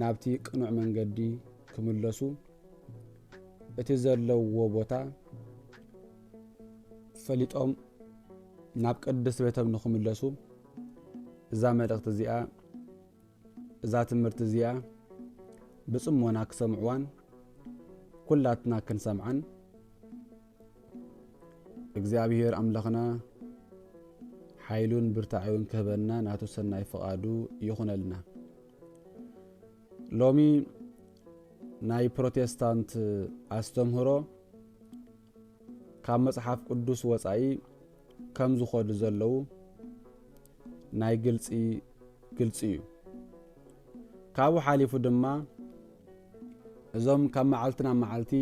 ናብቲ ቅኑዕ መንገዲ ክምለሱ እቲ ዘለውዎ ቦታ ፈሊጦም ናብ ቅድስት ቤቶም ንክምለሱ እዛ መልእኽቲ እዚኣ እዛ ትምህርቲ እዚኣ ብጽሞና ክሰምዕዋን ኩላትና ክንሰምዓን እግዚኣብሔር ኣምላኽና ሓይሉን ብርታዐዩን ክህበና ናቱ ሰናይ ፍቓዱ ይኹነልና። ሎሚ ናይ ፕሮቴስታንት ኣስተምህሮ ካብ መጽሓፍ ቅዱስ ወጻኢ ከም ዝኾዱ ዘለዉ ናይ ግልጺ ግልጺ እዩ። ካብኡ ሓሊፉ ድማ እዞም ካብ መዓልቲ ናብ መዓልቲ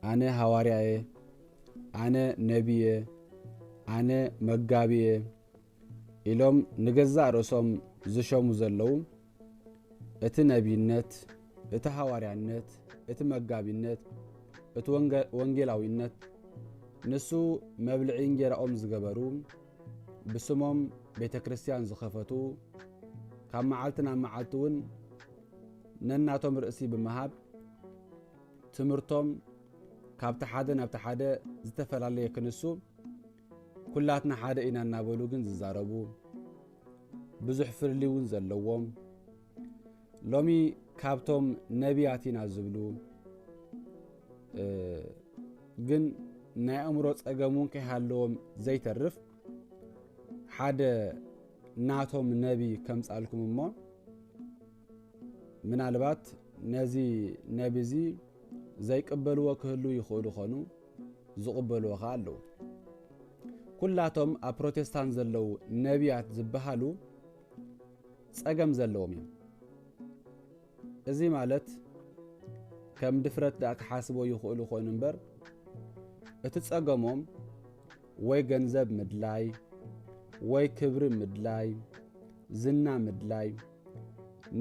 ኣነ ሃዋርያ እየ፣ ኣነ ነቢ እየ፣ ኣነ መጋቢ እየ ኢሎም ንገዛእ ርእሶም ዝሸሙ ዘለዉ እቲ ነቢይነት፣ እቲ ሃዋርያነት፣ እቲ መጋቢነት፣ እቲ ወንጌላዊነት ንሱ መብልዒ እንጌራኦም ዝገበሩ ብስሞም ቤተ ክርስቲያን ዝኸፈቱ ካብ መዓልቲ ናብ መዓልቲ እውን ነናቶም ርእሲ ብምሃብ ትምህርቶም ካብቲ ሓደ ናብቲ ሓደ ዝተፈላለየ ክንሱ ኩላትና ሓደ ኢና እናበሉ ግን ዝዛረቡ ብዙሕ ፍልሊ እውን ዘለዎም ሎሚ ካብቶም ነቢያት ኢና ዝብሉ ግን ናይ ኣእምሮ ጸገም እውን ከይሃለዎም ዘይተርፍ ሓደ ናቶም ነቢ ከምጻልኩም እሞ ምናልባት ነዚ ነቢ እዚ ዘይቅበልዎ ክህሉ ይኽእሉ ኾኑ ዝቕበልዎ ኸኣ ኣለዉ ኩላቶም ኣብ ፕሮቴስታንት ዘለዉ ነቢያት ዝበሃሉ ጸገም ዘለዎም እዮም እዚ ማለት ከም ድፍረት ደኣ ክሓስቦ ይኽእሉ ኮይኑ እምበር እቲ ጸገሞም ወይ ገንዘብ ምድላይ ወይ ክብሪ ምድላይ ዝና ምድላይ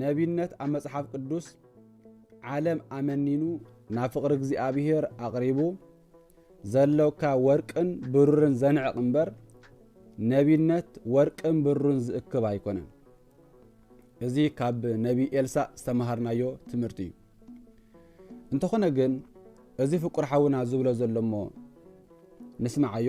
ነቢነት ኣብ መጽሓፍ ቅዱስ ዓለም ኣመኒኑ ናብ ፍቕሪ እግዚኣብሔር ኣቕሪቡ ዘሎካ ወርቅን ብሩርን ዘንዕቕ እምበር ነቢነት ወርቅን ብሩን ዝእክብ ኣይኮነን። እዚ ካብ ነቢ ኤልሳእ ዝተምሃርናዮ ትምህርቲ እዩ እንተኾነ ግን እዚ ፍቁር ሓውና ዝብሎ ዘሎ እሞ ንስምዓዮ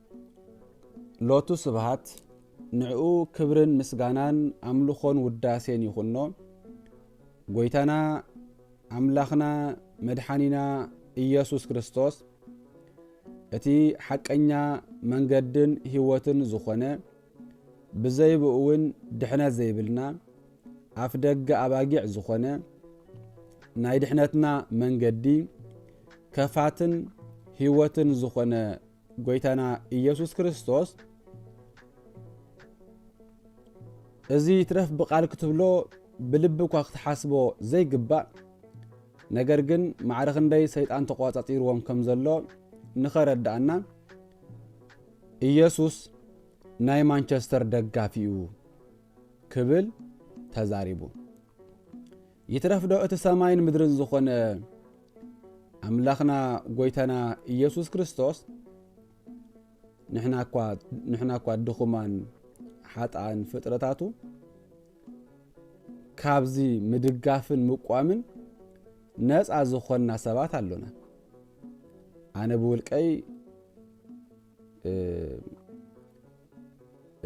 ሎቱ ስብሃት ንዕኡ ክብርን ምስጋናን ኣምልኾን ውዳሴን ይኹኖ። ጎይታና ኣምላኽና መድሓኒና ኢየሱስ ክርስቶስ እቲ ሓቀኛ መንገድን ህይወትን ዝኾነ ብዘይብኡ እውን ድሕነት ዘይብልና ኣፍ ደገ ኣባጊዕ ዝኾነ ናይ ድሕነትና መንገዲ ከፋትን ህይወትን ዝኾነ ጐይታና ኢየሱስ ክርስቶስ እዚ ይትረፍ ብቃል ክትብሎ ብልቢ እኳ ክትሓስቦ ዘይግባእ ነገር ግን ማዕረ ክንደይ ሰይጣን ተቋጻጺርዎም ከም ዘሎ ንኸረዳእና ኢየሱስ ናይ ማንቸስተር ደጋፊ እዩ ክብል ተዛሪቡ። ይትረፍዶ እቲ ሰማይን ምድርን ዝኾነ ኣምላኽና ጎይታና ኢየሱስ ክርስቶስ ንሕና እኳ ድኹማን ሓጥኣን ፍጥረታቱ ካብዚ ምድጋፍን ምቋምን ነፃ ዝኾንና ሰባት ኣሎና ኣነ ብውልቀይ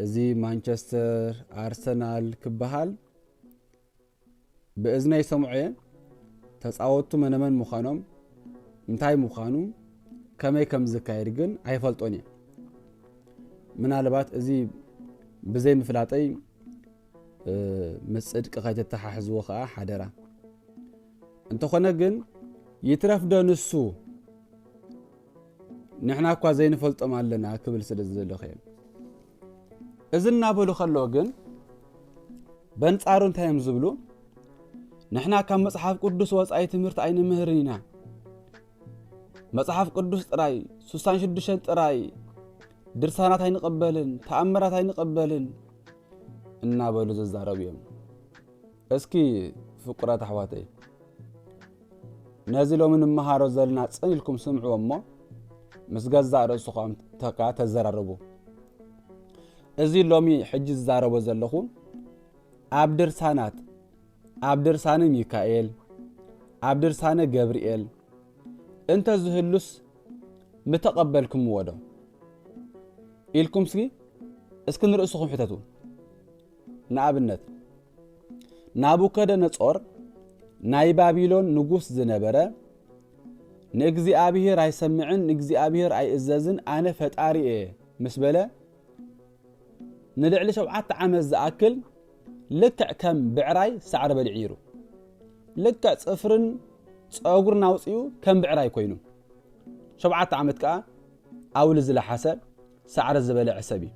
እዚ ማንቸስተር ኣርሰናል ክበሃል ብእዝነይ ሰምዖ'የ፣ ተጻወትቱ መነመን ምዃኖም፣ እንታይ ምዃኑ፣ ከመይ ከም ዝካየድ ግን ኣይፈልጦን'የ። ምናልባት እዚ ብዘይምፍላጠይ ምስ ጽድቂ ከይተተሓሕዝዎ ከኣ ሓደራ። እንተኾነ ግን ይትረፍዶ ንሱ ንሕና እኳ ዘይንፈልጦም ኣለና ክብል ስለ ዝደለኹ እየ። እዚ እናበሉ ከለዉ ግን በንጻሩ እንታይ እዮም ዝብሉ? ንሕና ካብ መጽሓፍ ቅዱስ ወጻኢ ትምህርቲ ኣይንምህርን ኢና። መጽሓፍ ቅዱስ ጥራይ ስሳን ሽዱሽተን ጥራይ ድርሳናት ኣይንቕበልን ተኣምራት ኣይንቕበልን እናበሉ ዝዛረቡ እዮም እስኪ ፍቁራት ኣሕዋተይ ነዚ ሎሚ ንመሃሮ ዘለና ጽን ኢልኩም ስምዕዎ እሞ ምስ ገዛእ ርእስኹም ተካ ተዘራረቡ እዚ ሎሚ ሕጂ ዝዛረቦ ዘለኹ ኣብ ድርሳናት ኣብ ድርሳነ ሚካኤል ኣብ ድርሳነ ገብርኤል እንተ ዝህሉስ ምተቐበልክምዎ ዶ ኢልኩም ስጊ እስኪ ንርእስኹም ሕተቱ። ንኣብነት ናቡከደነጾር ናይ ባቢሎን ንጉስ ዝነበረ ንእግዚኣብሔር ኣይሰምዕን ንእግዚኣብሔር ኣይእዘዝን ኣነ ፈጣሪ እየ ምስ በለ ንልዕሊ ሸውዓተ ዓመት ዝኣክል ልክዕ ከም ብዕራይ ሳዕሪ በሊዑ ይሩ ልክዕ ፅፍርን ፀጉርን ኣውፅኡ ከም ብዕራይ ኮይኑ ሸውዓተ ዓመት ከዓ ኣውሊ ዝለሓሰ ሳዕሪ ዝበልዐ ሰብ እዩ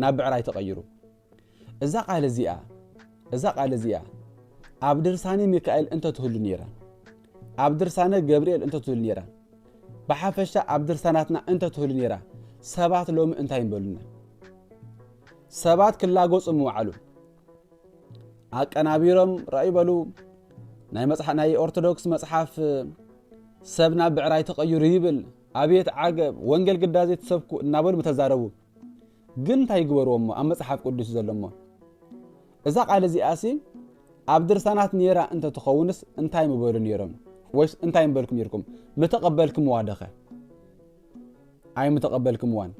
ናብ ብዕራይ ተቐይሩ እዛ ቃል እዚኣ እዛ ቃል እዚኣ ኣብ ድርሳነ ሚካኤል እንተ ትህሉ ነይራ ኣብ ድርሳነ ገብርኤል እንተ ትህሉ ነይራ ብሓፈሻ ኣብ ድርሳናትና እንተ ትህሉ ነይራ ሰባት ሎሚ እንታይ ምበሉና ሰባት ክላጎጹ ምውዓሉ ኣቀናቢሮም ራእዩ በሉ ናይ መጽሓፍ ናይ ኦርቶዶክስ መጽሓፍ ሰብና ብዕራይ ተቐይሩ ይብል ኣብየት ዓገብ ወንጌል ግዳዜ ትሰብኩ እናበሉ ምተዛረቡ ግን እንታይ ይግበርዎ እሞ ኣብ መጽሓፍ ቅዱስ ዘሎ እሞ እዛ ቃል እዚኣሲ ኣብ ድርሳናት ነይራ እንተ ትኸውንስ እንታይ ምበሉ ነይሮም ወይስ እንታይ ምበልኩ ነይርኩም ምተቐበልክምዋ ደኸ ኣይ ምተቐበልክምዋን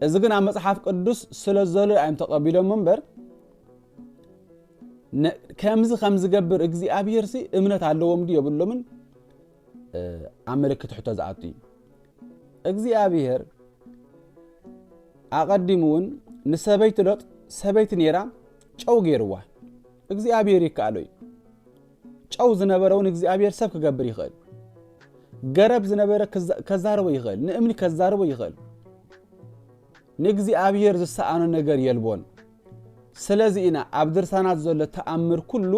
እዚ ግን ኣብ መጽሓፍ ቅዱስ ስለ ዘሎ እዮም ተቐቢሎም እምበር ከምዚ ከም ዝገብር እግዚኣብሄር ሲ እምነት ኣለዎም ድዩ የብሎምን ኣብ ምልክት ሕቶ ዝኣቱ እዩ። እግዚኣብሄር ኣቐዲሙ እውን ንሰበይቲ ሎጥ ሰበይቲ ነይራ ጨው ገይርዋ። እግዚኣብሄር ይከኣሎ እዩ። ጨው ዝነበረ እውን እግዚኣብሄር ሰብ ክገብር ይኽእል። ገረብ ዝነበረ ከዛርቦ ይኽእል፣ ንእምኒ ከዛርቦ ይኽእል። ንእግዚኣብሄር ዝሰኣኖ ነገር የልቦን። ስለዚ ኢና ኣብ ድርሳናት ዘሎ ተኣምር ኩሉ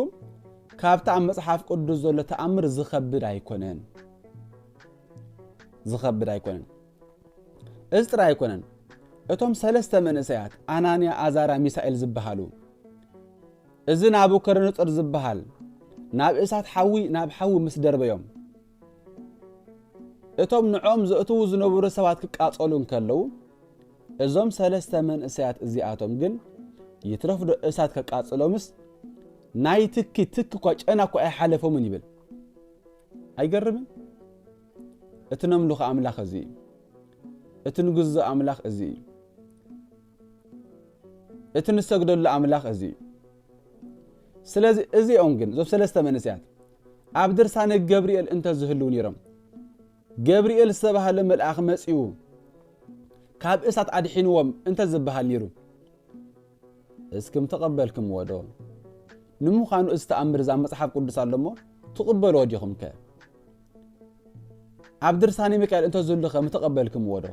ካብቲ ኣብ መጽሓፍ ቅዱስ ዘሎ ተኣምር ዝኸብድ ኣይኮነን ዝኸብድ ኣይኮነን እዚ ጥራይ ኣይኮነን እቶም ሰለስተ መንእሰያት ኣናንያ ኣዛራ ሚሳኤል ዝበሃሉ እዚ ናቡከደነጾር ዝበሃል ናብ እሳት ሓዊ ናብ ሓዊ ምስ ደርበዮም እቶም ንዕኦም ዘእትዉ ዝነበሩ ሰባት ክቃጸሉ እንከለዉ እዞም ሰለስተ መንእሰያት እዚኣቶም ግን ይትረፍዶ እሳት ከቃጽሎምስ ናይ ትኪ ትኪ እኳ ጨና እኳ ኣይሓለፎምን ይብል ኣይገርምን እቲ ነምልኾ ኣምላኽ እዚ እዩ እቲ ንግዞ ኣምላኽ እዚ እዩ እቲ ንሰግደሉ ኣምላኽ እዚ እዩ ስለዚ እዚኦም ግን እዞም ሰለስተ መንእሰያት ኣብ ድርሳነ ገብርኤል እንተ ዝህልው ነይሮም ገብርኤል ዝተባህለ መልኣኽ መጺኡ ካብ እሳት ኣድሒንዎም እንተ ዝበሃል ነይሩ እስክም ተቐበልክምዎ ዶ? ንምዃኑ እዚ ተኣምር እዛ መጽሓፍ ቅዱስ ኣሎ እሞ ትቕበልዎ ዲኹም ከ ኣብ ድርሳነ ሚካኤል እንተ ዝህሉ ከ ምተቐበልክምዎ ዶ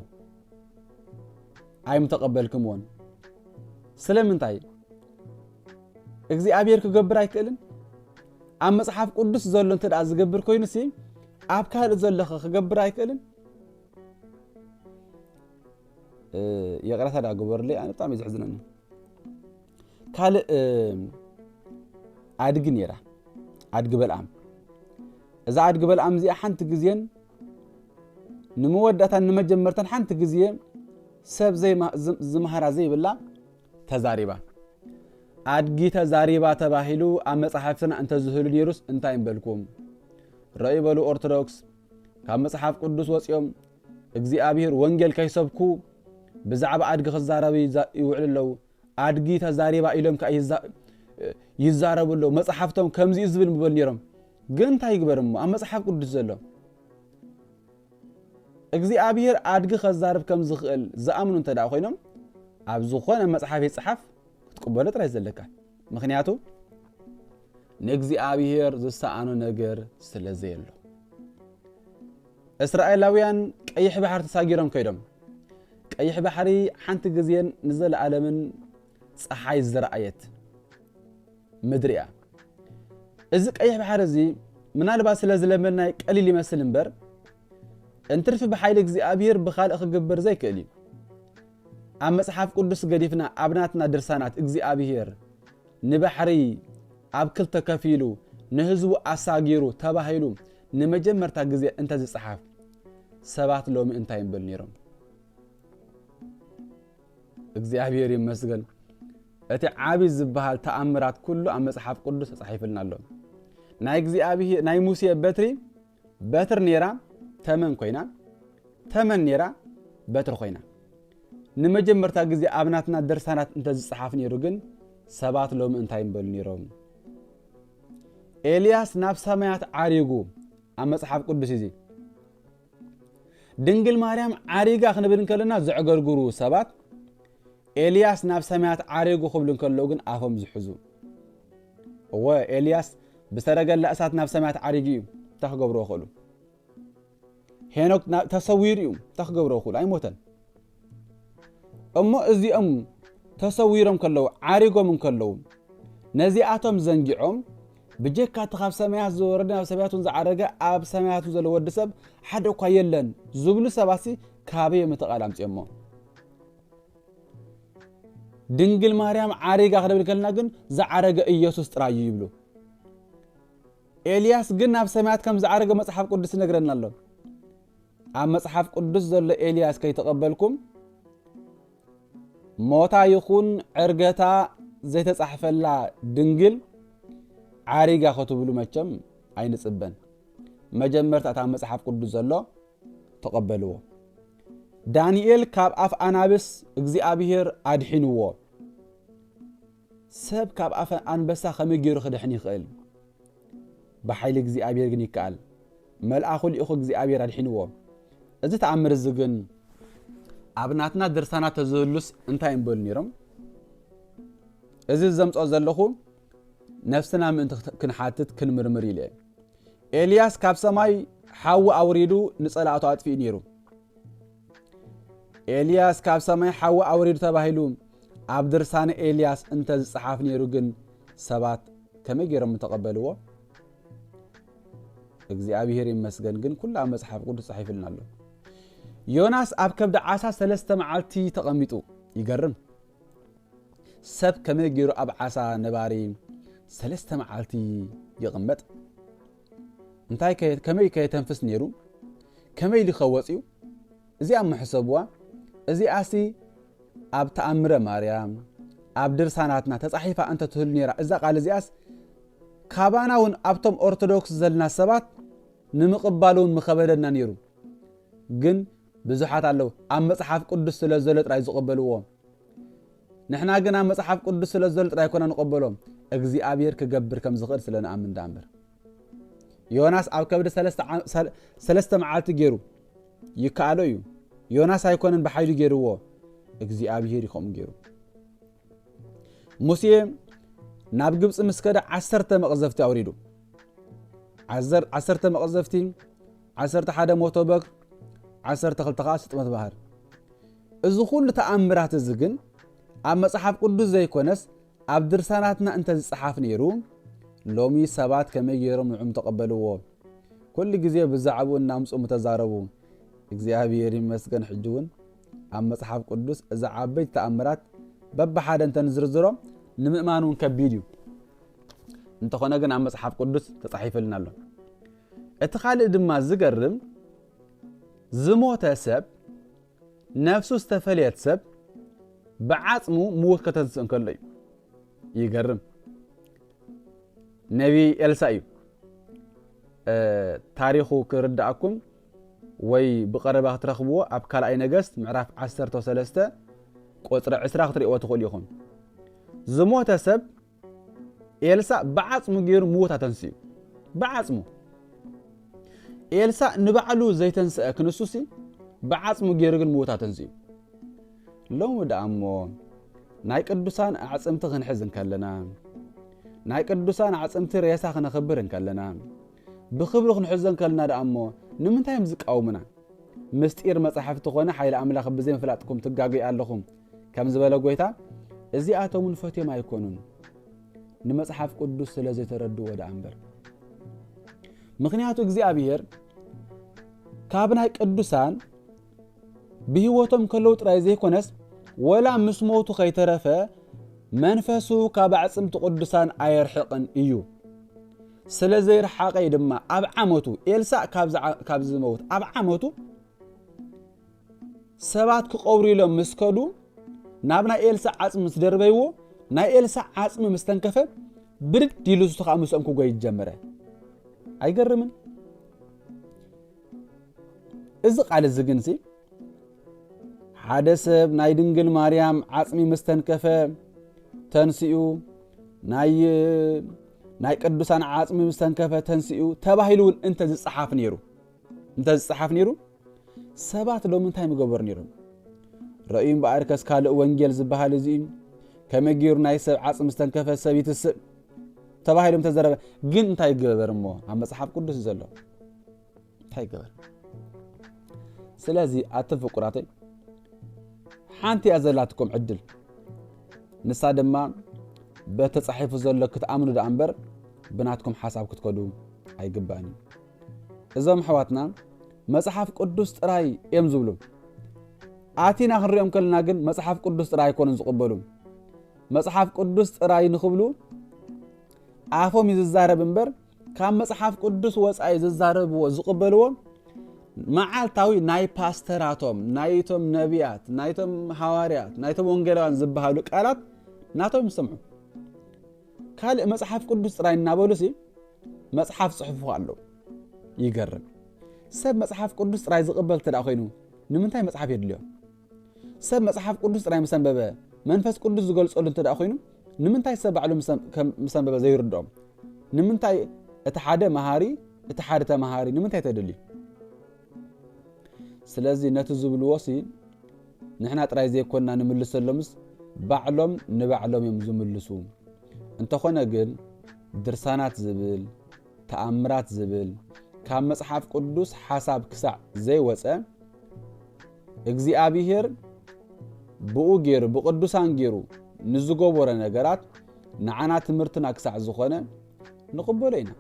ኣይምተቐበልክምዎን ስለምንታይ እግዚኣብሔር ክገብር ኣይክእልን ኣብ መጽሓፍ ቅዱስ ዘሎ እንተ ደኣ ዝገብር ኮይኑሲ ኣብ ካልእ ዘለኸ ክገብር ኣይክእልን? ይቕረታ ደኣ ግበሩለይ ኣነ ብጣዕሚ ዘሕዝነኒ ካልእ ኣድጊ ነይራ ኣድጊ በልኣም እዛ ኣድጊ በልኣም እዚኣ ሓንቲ ግዜን ንመወዳእታን ንመጀመርታን ሓንቲ ግዜ ሰብ ዝመሃራ ዘይብላ ተዛሪባ ኣድጊ ተዛሪባ ተባሂሉ ኣብ መጽሓፍትና እንተዝህሉ ነይሩስ እንታይ እምበልኩም? ረዩ በሉ ኦርቶዶክስ ካብ መጽሓፍ ቅዱስ ወጺኦም እግዚኣብሔር ወንጌል ከይሰብኩ ብዛዕባ ኣድጊ ክዛረቡ ይውዕሉ ኣለዉ። ኣድጊ ተዛሪባ ኢሎም ከዓ ይዛረቡ ኣለዉ። መጽሓፍቶም ከምዚ ዝብል ምበሉ ነይሮም። ግን እንታይ ይግበር እሞ ኣብ መጽሓፍ ቅዱስ ዘሎ እግዚኣብሄር ኣድጊ ከዛርብ ከም ዝኽእል ዝኣምኑ እንተደኣ ኮይኖም ኣብ ዝኾነ መጽሓፍ ይጽሓፍ ክትቅበሎ ጥራይ ዘለካ ምክንያቱ ንእግዚኣብሄር ዝሰኣኖ ነገር ስለ ዘየሎ እስራኤላውያን ቀይሕ ባሕሪ ተሳጊሮም ከይዶም ቀይሕ ባሕሪ ሓንቲ ግዜን ንዘለኣለምን ጸሓይ ዝረኣየት ምድሪ እያ። እዚ ቀይሕ ባሕሪ እዚ ምናልባት ስለ ዝለመድናይ ቀሊል ይመስል እምበር እንትርፊ ብሓይሊ እግዚኣብሔር ብኻልእ ክግብር ዘይክእል እዩ። ኣብ መጽሓፍ ቅዱስ ገዲፍና ኣብ ናትና ድርሳናት እግዚኣብሔር ንባሕሪ ኣብ ክልተ ከፊሉ ንህዝቡ ኣሳጊሩ ተባሂሉ ንመጀመርታ ግዜ እንተዝጸሓፍ ሰባት ሎሚ እንታይ ይበሉ ነይሮም? እግዚኣብሔር ይመስገን እቲ ዓቢ ዝበሃል ተኣምራት ኩሉ ኣብ መጽሓፍ ቅዱስ ተጻሒፍልና ኣሎ ናይ እግዚኣብሔር ናይ ሙሴ በትሪ በትር ነይራ ተመን ኮይና ተመን ነይራ በትሪ ኮይና ንመጀመርታ ግዜ ኣብ ናትና ድርሳናት እንተ ዝጸሓፍ ነይሩ ግን ሰባት ሎሚ እንታይ ንበሉ ነይሮም ኤልያስ ናብ ሰማያት ዓሪጉ ኣብ መጽሓፍ ቅዱስ እዚ ድንግል ማርያም ዓሪጋ ክንብል እንከለና ዘዕገርግሩ ሰባት ኤልያስ ናብ ሰማያት ዓሪጉ ክብሉ እንከለዉ ግን ኣፎም ዝሕዙ እወ ኤልያስ ብሰረገላ እሳት ናብ ሰማያት ዓሪጉ እዩ እንታይ ክገብሮ ክእሉ ሄኖክ ተሰዊሩ እዩ እንታይ ክገብሮ ክእሉ ኣይሞተን እሞ እዚኦም ተሰዊሮም ከለዉ ዓሪጎም እንከለዉ ነዚኣቶም ዘንጊዖም ብጀካ እቲ ካብ ሰማያት ዝወረደ ናብ ሰማያት እውን ዝዓረገ ኣብ ሰማያት ዘሎ ወዲ ሰብ ሓደ እኳ የለን ዝብሉ ሰባሲ ካበዮም እቲ ቃል ኣምፅኦሞ ድንግል ማርያም ዓሪጋ ክደብል ከልና ግን ዝዓረገ ኢየሱስ ጥራይ እዩ ይብሉ ኤልያስ ግን ናብ ሰማያት ከም ዝዓረገ መጽሓፍ ቅዱስ ይነግረና ኣሎ። ኣብ መጽሓፍ ቅዱስ ዘሎ ኤልያስ ከይተቐበልኩም ሞታ ይኹን ዕርገታ ዘይተጻሕፈላ ድንግል ዓሪጋ ክትብሉ መቸም ኣይንጽበን። መጀመርታ እታ መጽሓፍ ቅዱስ ዘሎ ተቐበልዎ። ዳንኤል ካብ ኣፍ ኣናብስ እግዚኣብሔር ኣድሒንዎ። ሰብ ካብ ኣፈ ኣንበሳ ከመይ ገይሩ ክድሕን ይኽእል? ብሓይሊ እግዚኣብሔር ግን ይከኣል። መልኣኹ ልኢኹ እግዚኣብሔር ኣድሒንዎ። እዚ ተኣምር እዚ ግን ኣብ ናትና ድርሳናት ተዝህሉስ እንታይ እምበሉ ነይሮም? እዚ ዘምፅኦ ዘለኹ ነፍስና ምእንቲ ክንሓትት ክንምርምር ኢለ ኤልያስ ካብ ሰማይ ሓዊ ኣውሪዱ ንጸላእቱ ኣጥፊኡ ነይሩ ኤልያስ ካብ ሰማይ ሓዊ ኣውሪዱ ተባሂሉ ኣብ ድርሳነ ኤልያስ እንተ ዝጸሓፍ ነይሩ ግን ሰባት ከመይ ገይሮም ምተቐበልዎ? እግዚኣብሄር ይመስገን ግን ኩሉ ኣብ መጽሓፍ ቅዱስ ጻሒፍልና ኣሎ። ዮናስ ኣብ ከብዲ ዓሳ ሰለስተ መዓልቲ ተቐሚጡ ይገርም። ሰብ ከመይ ገይሩ ኣብ ዓሳ ነባሪ ሰለስተ መዓልቲ ይቕመጥ? እንታይ ከ ከመይ ከ የተንፍስ ነይሩ ከመይ ኢሉ ከ ወጽዩ እዚኣ እሞ ሕሰብዋ እዚኣሲ ኣብ ተኣምረ ማርያም ኣብ ድርሳናትና ተጻሒፋ እንተ ትህሉ ነይራ እዛ ቃል እዚኣስ ካባና እውን ኣብቶም ኦርቶዶክስ ዘለና ሰባት ንምቕባል እውን ምኸበደና ነይሩ ግን ብዙሓት ኣለዉ ኣብ መጽሓፍ ቅዱስ ስለ ዘሎ ጥራይ ዝቕበልዎ ንሕና ግና መጽሓፍ ቅዱስ ስለ ዝደሉ ጥራይ ኮና ንቐበሎ፣ እግዚኣብሔር ክገብር ከም ዝኽእል ስለ ንኣምን ደኣ እምበር። ዮናስ ኣብ ከብዲ ሰለስተ መዓልቲ ገይሩ ይከኣሎ እዩ። ዮናስ ኣይኮነን ብሓይሉ ገይርዎ፣ እግዚኣብሔር እዩ ከምኡ ገይሩ። ሙሴ ናብ ግብፂ ምስ ከደ ዓሰርተ መቕዘፍቲ ኣውሪዱ ዓሰርተ መቕዘፍቲ ዓሰርተ ሓደ ሞቶ በግ ዓሰርተ ክልተ ከዓ ስጥመት ባህር እዚ ዅሉ ተኣምራት እዚ ግን ኣብ መጽሓፍ ቅዱስ ዘይኰነስ ኣብ ድርሳናትና እንተ ዝጸሓፍ ነይሩ፣ ሎሚ ሰባት ከመይ ገይሮም ንዕኡ ምተቐበልዎ? ኵሉ ግዜ ብዛዕባኡ እናምጽኡ ምተዛረቡ። እግዚኣብሄር ይመስገን ሕጂ እውን ኣብ መጽሓፍ ቅዱስ እዚ ዓበይቲ ተኣምራት በብሓደ እንተ ንዝርዝሮ ንምእማን እውን ከቢድ እዩ። እንተኾነ ግን ኣብ መጽሓፍ ቅዱስ ተጻሒፈልና ኣሎ እቲ ካልእ ድማ ዝገርም ዝሞተ ሰብ ነፍሱ ዝተፈልየት ሰብ ብዓጽሙ ምዉት ከተንስእ እንከሎ እዩ ይገርም ነቢ ኤልሳ እዩ ታሪኹ ክርዳእኩም ወይ ብቐረባ ክትረኽብዎ ኣብ ካልኣይ ነገስት ምዕራፍ 13 ቁፅሪ 20 ክትሪእዎ ትኽእሉ ኢኹም ዝሞተ ሰብ ኤልሳእ ብዓጽሙ ጌሩ ምዉት ኣተንሲኡ ብዓጽሙ ኤልሳእ ንባዕሉ ዘይተንስአ ክንሱሲ ብዓጽሙ ጌሩ ግን ምዉት ኣተንሲኡ ሎሚ ደኣ እሞ ናይ ቅዱሳን ኣዕጽምቲ ክንሕዝ እንከለና ናይ ቅዱሳን ኣዕጽምቲ ሬሳ ክነኽብር እንከለና ብክብሪ ክንሕዞ እንከለና ደኣ እሞ ንምንታይ እዮም ዝቃወሙና ምስጢር መጻሕፍቲ ኮነ ሓይሊ ኣምላኽ ብዘይምፍላጥኩም ትጋገዩ ኣለኹም ከም ዝበለ ጎይታ እዚኣቶም ንፈትዮም ኣይኮኑን ንመጽሓፍ ቅዱስ ስለ ዘይተረድዎ ደኣ እምበር ምክንያቱ እግዚኣብሔር ካብ ናይ ቅዱሳን ብህይወቶም ከለዉ ጥራይ ዘይኮነስ ወላ ምስ ሞቱ ከይተረፈ መንፈሱ ካብ ኣዕፅምቲ ቅዱሳን ኣየርሕቕን እዩ ስለ ዘይረሓቐይ ድማ ኣብ ዓመቱ ኤልሳእ ካብ ዝመውት ኣብ ዓመቱ ሰባት ክቐብሩ ኢሎም ምስ ከዱ ናብ ናይ ኤልሳ ዓጽሚ ምስ ደርበይዎ ናይ ኤልሳ ዓጽሚ ምስ ተንከፈ ብድድ ኢሉ እሱ ከዓ ምስኦም ክጎይ ጀመረ። ኣይገርምን? እዚ ቃል እዚ ግን ሲ ሓደ ሰብ ናይ ድንግል ማርያም ዓጽሚ ምስ ተንከፈ ተንስኡ ናይ ናይ ቅዱሳን ዓጽሚ ምስ ተንከፈ ተንስኡ ተባሂሉ እውን እንተ ዝጸሓፍ ነይሩ እንተ ዝጸሓፍ ነይሩ ሰባት ሎሚ እንታይ ምገበሩ ነይሮም? ረእዩ እምበኣር ከስ ካልእ ወንጌል ዝበሃል እዚ እዩ። ከመይ ገይሩ ናይ ሰብ ዓጽሚ ዝተንከፈ ሰብ ይትስእ ተባሂሎም ተዘረበ። ግን እንታይ ይገበር እሞ ኣብ መጽሓፍ ቅዱስ ዘሎ እንታይ ይገበር? ስለዚ ኣቶም ፍቁራተይ ሓንቲ እያ ዘላትኩም ዕድል ንሳ ድማ በተጻሒፉ ዘሎ ክትኣምኑ ደኣ እምበር ብናትኩም ሓሳብ ክትከዱ ኣይግባእን እዩ። እዞም ኣሕዋትና መጽሓፍ ቅዱስ ጥራይ እዮም ዝብሉ ኣቲና ክንሪኦም ከለና ግን መጽሓፍ ቅዱስ ጥራይ ኣይኮኑን ዝቕበሉ መጽሓፍ ቅዱስ ጥራይ ንኽብሉ ኣፎም እዩ ዝዛረብ እምበር ካብ መጽሓፍ ቅዱስ ወፃኢ ዝዛረብዎ ዝቕበልዎ መዓልታዊ ናይ ፓስተራቶም ናይቶም ነቢያት ናይቶም ሃዋርያት ናይቶም ወንጌላውያን ዝበሃሉ ቃላት ናቶም ይሰምዑ ካልእ መጽሓፍ ቅዱስ ጥራይ እናበሉሲ መጽሓፍ ጽሑፉ ኣለዉ ይገርም ሰብ መጽሓፍ ቅዱስ ጥራይ ዝቕበል እተ ኮይኑ ንምንታይ መጽሓፍ የድልዮ ሰብ መጽሓፍ ቅዱስ ጥራይ ምስ ኣንበበ መንፈስ ቅዱስ ዝገልጸሉ እንተ ኮይኑ ንምንታይ ሰብ ባዕሉ ምስ ኣንበበ ዘይርድኦም ንምንታይ እቲ ሓደ መሃሪ እቲ ሓደ ተመሃሪ ንምንታይ ተደልዩ ስለዚ ነቲ ዝብልዎ ሲ ንሕና ጥራይ ዘይኮንና ንምልሰሎምስ ባዕሎም ንባዕሎም እዮም ዝምልሱ። እንተኾነ ግን ድርሳናት ዝብል፣ ተኣምራት ዝብል ካብ መጽሓፍ ቅዱስ ሓሳብ ክሳዕ ዘይወጸ እግዚኣብሄር ብኡ ገይሩ ብቅዱሳን ገይሩ ንዝገበሮ ነገራት ንዓና ትምህርትና ክሳዕ ዝኾነ ንቕበሎ ኢና።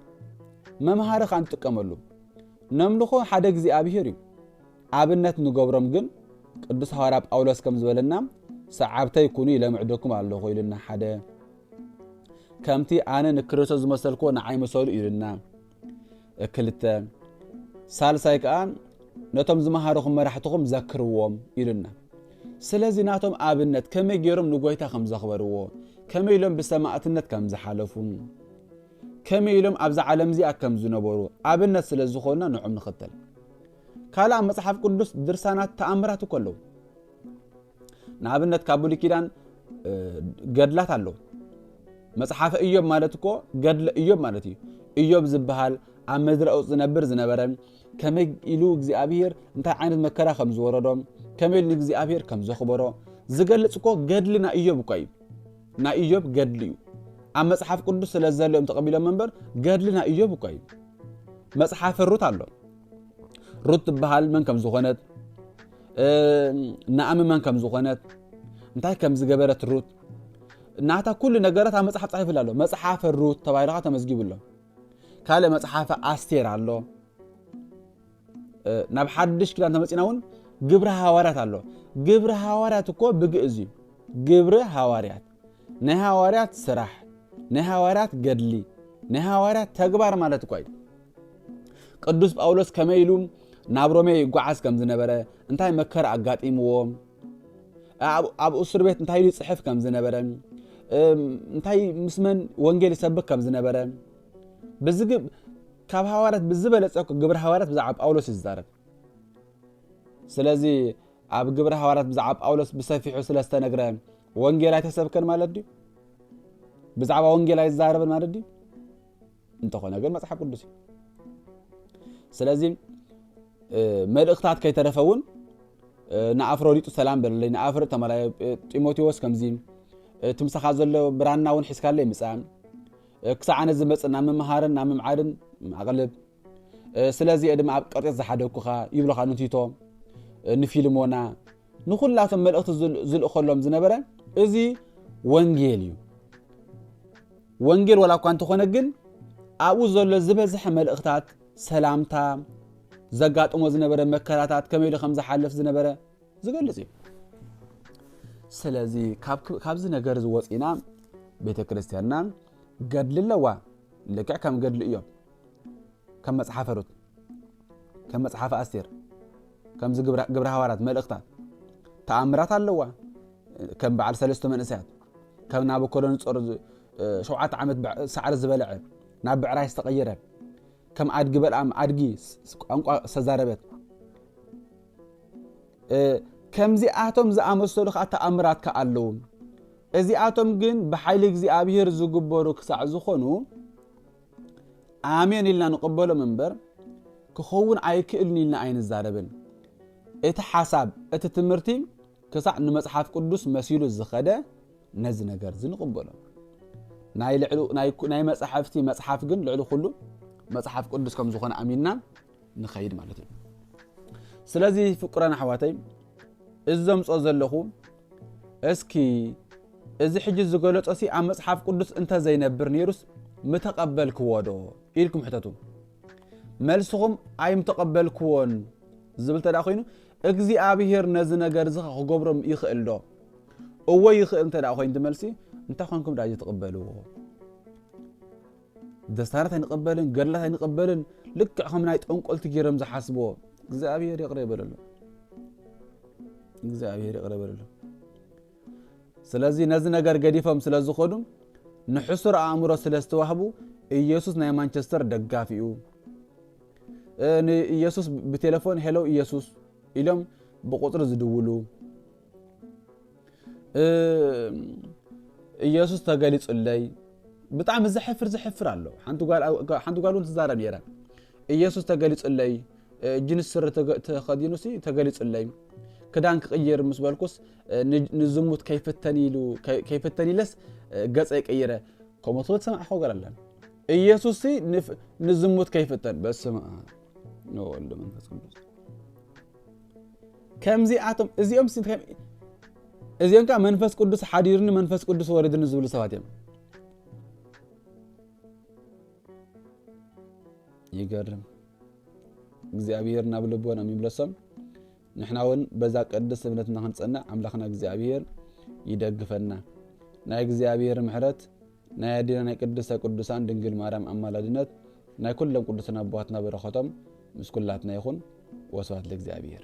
መምሃሪ ከኣ ንጥቀመሉ። ነምልኾ ሓደ እግዚኣብሄር እዩ። ኣብነት ንገብሮም ግን ቅዱስ ሃዋርያ ጳውሎስ ከም ዝበለና ሰዓብተይ ኩኑ ይለምዕደኩም ኣለኹ ኢሉና ሓደ ከምቲ ኣነ ንክርስቶስ ዝመሰልክዎ ንዓይ ምሰሉ ኢሉና ክልተ ሳልሳይ ከዓ ነቶም ዝመሃርኹም መራሕትኹም ዘክርዎም ኢሉና ስለዚ ናቶም ኣብነት ከመይ ገይሮም ንጎይታ ከም ዘኽበርዎ ከመይ ኢሎም ብሰማእትነት ከም ዝሓለፉ ከመይ ኢሎም ኣብዚ ዓለም እዚኣ ከም ዝነበሩ ኣብነት ስለ ዝኾኑና ንዕም ንኽተል ካልእ ኣብ መጽሓፍ ቅዱስ ድርሳናት ተኣምራት እኮ ኣለዉ። ንኣብነት ካብ ብሉይ ኪዳን ገድላት ኣለዉ። መጽሓፈ እዮብ ማለት እኮ ገድለ እዮብ ማለት እዩ። እዮብ ዝበሃል ኣብ ምድረ ኡፅ ዝነብር ዝነበረ ከመይ ኢሉ እግዚኣብሄር እንታይ ዓይነት መከራ ከም ዝወረዶ ከመይ ኢሉ ንእግዚኣብሄር ከም ዘኽበሮ ዝገልጽ እኮ ገድሊ ናይ እዮብ እኳ እዩ። ናይ እዮብ ገድሊ እዩ። ኣብ መጽሓፍ ቅዱስ ስለ ዘሎ እዮም ተቐቢሎም እምበር ገድሊ ናይ እዮብ እኳ እዩ። መጽሓፈ ሩት ኣሎ። ሩት ትበሃል መን ከም ዝኾነት ንኣሚ መን ከም ዝኾነት እንታይ ከም ዝገበረት ሩት ናታ ኩሉ ነገራት ኣብ መፅሓፍ ፃሒፉላ ኣሎ መፅሓፈ ሩት ተባሂልካ ተመዝጊቡ ኣሎ ካልእ መፅሓፈ ኣስቴር ኣሎ ናብ ሓድሽ ኪዳን ተመፂና እውን ግብሪ ሃዋርያት ኣሎ ግብሪ ሃዋርያት እኮ ብግእዝ እዩ ግብሪ ሃዋርያት ናይ ሃዋርያት ስራሕ፣ ናይ ሃዋርያት ገድሊ፣ ናይ ሃዋርያት ተግባር ማለት እኳ እዩ። ቅዱስ ጳውሎስ ከመይ ኢሉ ናብ ሮሜ ይጓዓዝ ከም ዝነበረ፣ እንታይ መከራ ኣጋጢምዎ፣ ኣብ እሱር ቤት እንታይ ኢሉ ይጽሕፍ ከም ዝነበረ፣ እንታይ ምስ መን ወንጌል ይሰብክ ከም ዝነበረ ካብ ሃዋርያት ብዝበለጸ ግብረ ሃዋርያት ብዛዕባ ጳውሎስ እዩ ዝዛረብ ስለዚ ኣብ ግብረ ሃዋርያት ብዛዕባ ጳውሎስ ብሰፊሑ ስለ ዝተነግረ ወንጌል ኣይተሰብከን ማለት ድዩ? ብዛዕባ ወንጌል ኣይዛረብን ማለት ድዩ? እንተኾነ ግን መጽሓፍ ቅዱስ እዩ። ስለዚ መልእኽታት ከይተረፈ እውን ንኣፍሮዲጡ ሰላም በለለይ ንኣፍር ተመላ ጢሞቴዎስ ከምዚ እቲ ምሳኻ ዘሎ ብራና እውን ሒዝካለይ ምጻእ ክሳዕ ኣነ ዝመጽእ ናብ ምምሃርን ናብ ምምዓድን ኣቕልብ ስለዚ እየ ድማ ኣብ ቅርጤት ዝሓደግኩኻ ይብሉኻ ንቲቶ ንፊልሞና ንኹላቶም መልእኽቲ ዝልእኸሎም ዝነበረ እዚ ወንጌል እዩ ወንጌል ዋላ እኳ እንተኾነ ግን ኣብኡ ዘሎ ዝበዝሐ መልእኽታት ሰላምታ ዘጋጥሞ ዝነበረ መከራታት ከመይ ኢሉ ከም ዝሓልፍ ዝነበረ ዝገልጽ እዩ ስለዚ ካብዚ ነገር ዝወፂና ቤተ ክርስትያንና ገድሊ ኣለዋ ልክዕ ከም ገድሊ እዮም ከም መጽሓፈ ሩት፣ ከም መጽሓፈ ኣስቴር፣ ከምዚ ግብረ ሃዋርያት መልእኽታት ተኣምራት ኣለዋ። ከም በዓል ሰለስተ መንእሰያት ከም ናቡኮዶኖጾር ሸውዓተ ዓመት ሳዕሪ ዝበልዐ ናብ ብዕራይ ዝተቐየረ ከም ኣድጊ በልኣም ኣድጊ ቋንቋ ዝተዛረበት ከምዚኣቶም ዝኣመሰሉ ከዓ ተኣምራት ከዓ ኣለዉ እዚኣቶም ግን ብሓይሊ እግዚኣብሔር ዝግበሩ ክሳዕ ዝኾኑ ኣሜን ኢልና ንቕበሎም እምበር ክኸውን ኣይክእልን ኢልና ኣይንዛረብን። እቲ ሓሳብ እቲ ትምህርቲ ክሳዕ ንመጽሓፍ ቅዱስ መሲሉ ዝኸደ ነዚ ነገር እዚ ንቕበሎ። ናይ መጻሕፍቲ መጽሓፍ ግን ልዕሊ ኩሉ መጽሓፍ ቅዱስ ከም ዝኾነ ኣሚንና ንኸይድ ማለት እዩ ስለዚ ፍቁራን ኣሕዋተይ እዚ ዘምፆ ዘለኹ እስኪ እዚ ሕጂ ዝገለጾ ሲ ኣብ መጽሓፍ ቅዱስ እንተዘይነብር ነይሩስ ምተቐበልክዎ ዶ ኢልኩም ሕተቱ መልስኹም ኣይምተቐበልክዎን ዝብል ተደኣ ኮይኑ እግዚኣብሄር ነዚ ነገር እዚ ክገብሮም ይኽእል ዶ እወ ይኽእል እንተ ኮይኑ መልሲ እንታይ ኮንኩም ዳጅ ትቕበልዎ ደስታራት ኣይንቕበልን ገድላት ኣይንቕበልን ልክዕ ከም ናይ ጠንቆልቲ ገይሮም ዝሓስብዎ እግዚኣብሄር ይቕረ ይበለሎም እግዚኣብሄር ይቕረ ይበለሎም ስለዚ ነዚ ነገር ገዲፎም ስለ ዝኾኑ ንሕሱር ኣእምሮ ስለ ዝተዋህቡ ኢየሱስ ናይ ማንቸስተር ደጋፊ እዩ ንኢየሱስ ብቴሌፎን ሄሎ ኢየሱስ ኢሎም ብቁፅሪ ዝድውሉ ኢየሱስ ተገሊጹለይ ብጣዕሚ ዘሕፍር ዘሕፍር ኣሎ ሓንቲ ጓል እውን ትዛረብ ነይረ ኢየሱስ ተገሊጹለይ ጅንስ ስሪ ተኸዲኑሲ ተገሊጹለይ ክዳን ክቕይር ምስ በልኩስ ንዝሙት ከይፍተን ኢሉ ከይፍተን ኢለስ ገጸ ይቀይረ ከምኡ ትብል ትሰምዕ ከ ጓል ኣለን ኢየሱስ ንዝሙት ከይፍተን በስመ ወወልድ መንፈስ ቅዱስ ከምዚኣቶም እዚኦም እዚኦም ከዓ መንፈስ ቅዱስ ሓዲሩኒ መንፈስ ቅዱስ ወሪዱኒ ዝብሉ ሰባት እዮም ይገርም እግዚኣብሔር ናብ ልቦና የሚምለሶም ንሕና እውን በዛ ቅድስ እምነትና ክንፀንዕ ኣምላኽና እግዚኣብሔር ይደግፈና ናይ እግዚኣብሔር ምሕረት ናይ ኣዴና ናይ ቅድስተ ቅዱሳን ድንግል ማርያም ኣማላድነት ናይ ኩሎም ቅዱሳን ኣቦዋትና በረከቶም ምስ ኩላትና ይኹን ወስብሐት ለእግዚኣብሔር።